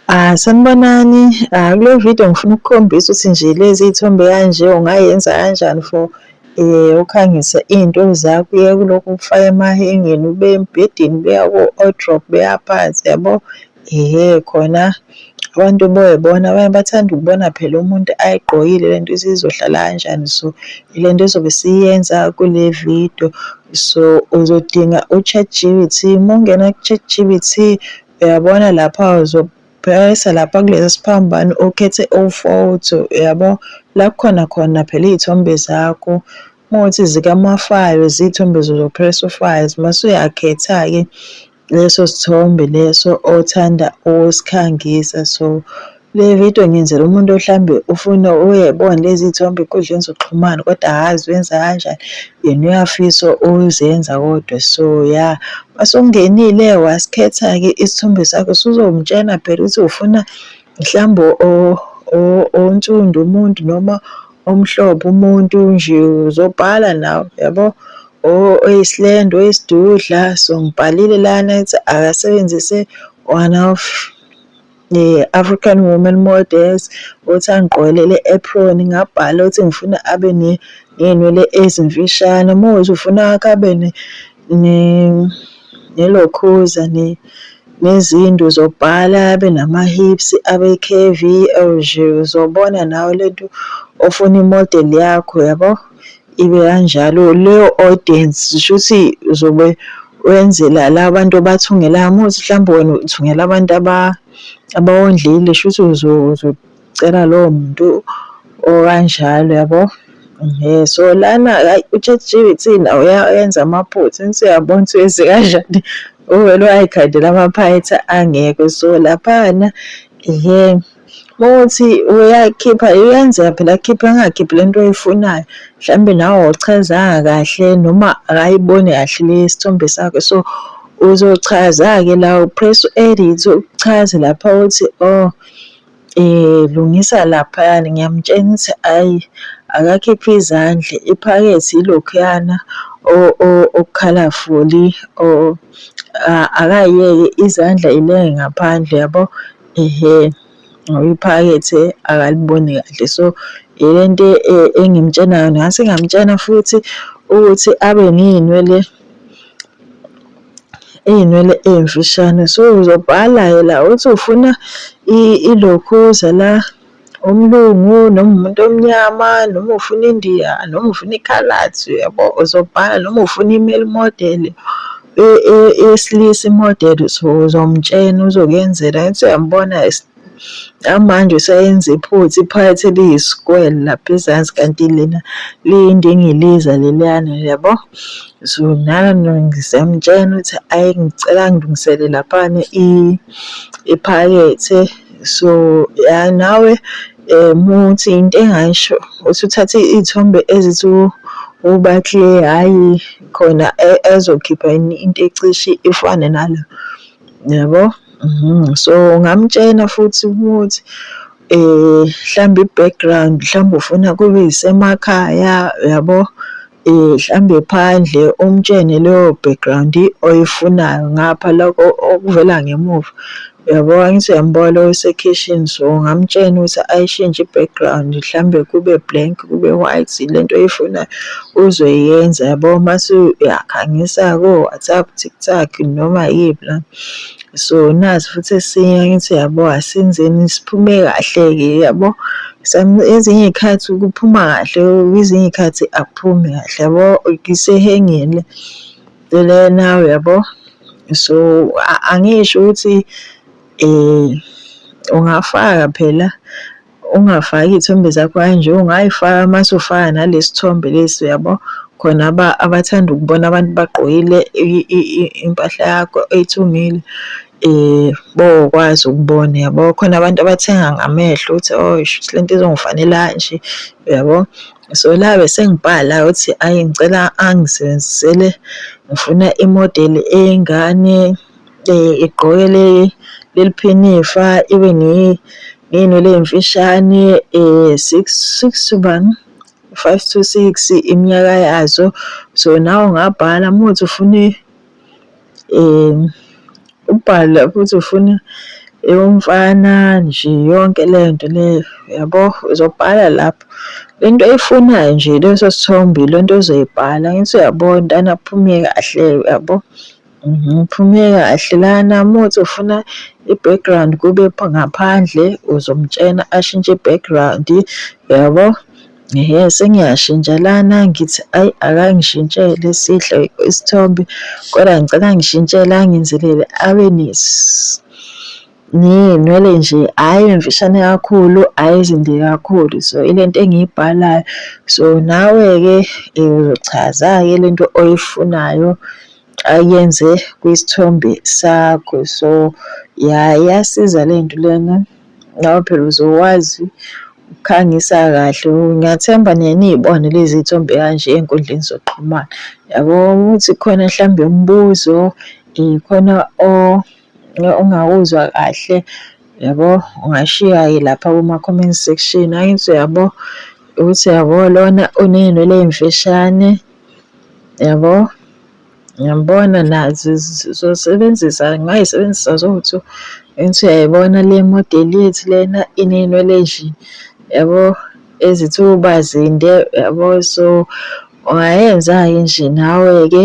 Ah, sanibonani. Ah, kule video ngifuna ukukhombisa ukuthi nje lezi iy'thombe kanje ungayenza kanjani for eh ukhangise iy'nto zakho uye kulokhu ukufaka emahengeni ube embhedeni ubeya ko-wardrop beya phansi yabo ehe khona abantu boyibona abanye bathanda ukubona phela umuntu ayigqokile lento isizohlala kanjani so ile nto ezobe siyenza kule video so uzodinga u-chat g b t uma ungena ku-chat g b t Uyabona lapha uzophayisa lapha kulesi siphambano ukhethe ufoto yabo la kukhona khona phela iy'thombe zakho uma ukuthi zikamafayo ziy'thombe zozopress ufayo mase uyakhetha-ke leso sithombe leso othanda ukusikhangisa so Le video ngiyenzela umuntu ohlambe ufuna uyebona lezi thombe enkundleni zokuxhumana kodwa hazi wenza kanjani yena uyafisa uzenza kodwa so ya masungenile wasikhetha-ke isithombe sakho suzomtshena phela ukuthi ufuna mhlawumbe onsundu umuntu noma omhlophe umuntu nje uzobhala nawe yabo oyisilendo oyisidudla so ngibhalile lana ukuthi akasebenzise one of eh, African Women Models ukuthi angigqwele le apron ngabhala ukuthi ngifuna abe ne ney'nwele ezimfishane uma ukuthi ufuna wakho abe nelokhuza nezindu zobhala abe nama-hips abe curvy or uzobona nawe le nto ofuna imodeli yakho yabo ibe kanjalo. Leyo audience zisho ukuthi uzobe wenzela la bantu obathungelayo uma uthi mhlawumbe wena uthungela abantu abawondlile shuthi uzocela lowo muntu okanjalo yabo. Ehe, so lana hhayi u-ChatGPT nawo uyawenza amaphutha angithi uyabona ukuthi wenze kanjani uvele uyay'khandela amaphayithi angekho so laphana ehe. Ukuthi uyakhipha uyenzeka phela akhiphe angakhiphi le nto oyifunayo mhlawumbe nawe awuchazanga kahle noma akayiboni kahle le sithombe sakho so uzochaza-ke la upress u-edit uchaze lapha ukuthi oh um lungisa laphayana ngiyamtshena ukuthi ayi akakhiphe izandla iphakethe yilokhuyana okukhalafuli akayeke izandla ilenge ngaphandle yabo Ehhe, ngoba iphakethe akaliboni kahle so ile nto e, engimtshena yona ngase ngamtshena futhi ukuthi abe ney'nwele iy'nwele ey'mfishane so uzobhala-ke la uthi ufuna ilokhuza la umlungu noma umuntu omnyama noma ufuna indiya noma ufuna ikhalathi uyabo uzobhala noma ufuna i-male model eyesilisa i-model so uzomtshena uzokuyenzela angithi uyambona amanje useyenza iphutha iphakathi eliyisikwele lapha ezansi kanti lena liyindingiliza leliyana yabo so nami ngisayamtshena ukuthi ayi ngicela ngilungisele laphana iphakethe. so ya nawe um muthi into engasho uthi uthathe iy'thombe ezithi uBakle hhayi khona ezokhipha yini into ecishe ifane nalo yabo mhm. so ngamtshena futhi ukuthi um mhlawumbe i-background mhlawumbe ufuna kube yisemakhaya yabo. Hlambe phandle umtshene leyo background oyifunayo ngapha lokho okuvela ngemuva yabo angithi uyambuka lo osekhishini so ngamtshena ukuthi ayishintshe i-background hlambe kube blank kube white lento oyifunayo uzoyenza yabo mase uyakhangisa ko-WhatsApp, TikTok noma yiphi la. So nazi futhi esinye ngithi yabo asenzeni siphume kahle-ke yabo. Ezinye iy'khathi kuphuma kahle, kwezinye iy'khathi akuphumi kahle yabo, isehhengile into le nawe yabo. So angisho ukuthi ungafaka phela. Ungafaki iy'thombe zakho kanje, ungay'faka mase ufaka nalesi thombe lesi uyabo. Khona abathanda ukubona abantu bagqokile impahla yakho oyithungile bokwazi ukubona uyabo. Khona abantu abathenga ngamehlo ukuthi oh shuthi le nto izongifanela kanje uyabo. So la besengibhala ukuthi ayi ngicela angisebenzisele ngifuna imodeli eyingane. igqoke leliphinifa ibe ngenwele emfishane six six to bani five to six iminyaka yazo. So nawe ungabhala uma kuwukuthi ufuna ubhale lapho ukuthi ufuna eyomfana nje yonke le nto leyo yabo, uzobhala lapho le nto oyifunayo nje leso sithombe yilento ozoyibhala angithi uyabo mntana kuphume kahle uyabo. Uphume kahle lana muthi ufuna i-background kube ngaphandle uzomtshena ashintshe i-background yabo. Ehhe sengiyashintsha lana ngithi ayi akangishintshele sihle isithombe kodwa ngicela angishintshele angenzelele awareness. ngeynwele nje hhayi mfishane kakhulu hhayi zinde kakhulu so ile nto engiyibhalayo so nawe-ke eh, uzochaza-ke le nto oyifunayo ayenze kwisithombe sakho so ya iyasiza le nto lena nawe phela uzowazi ukukhangisa kahle ngiyathemba niye niyibone lezi y'thombe kanje ey'nkundleni zokuxhumana yabo ukuthi khona mhlawumbe umbuzo um khona o ungawuzwa kahle yabo ungashiya-ke lapha kuma-comment section angithi uyabo ukuthi yabo lona uney'nwele ey'mfishane yabo ngiyambona nazi zizosebenzisa ngingayisebenzisa zowu-two engithi uyayibona le modeli yethu lena iney'nwele ezinje yabo ezithi uba zinde yabo so ungayenza-ke nje nawe-ke.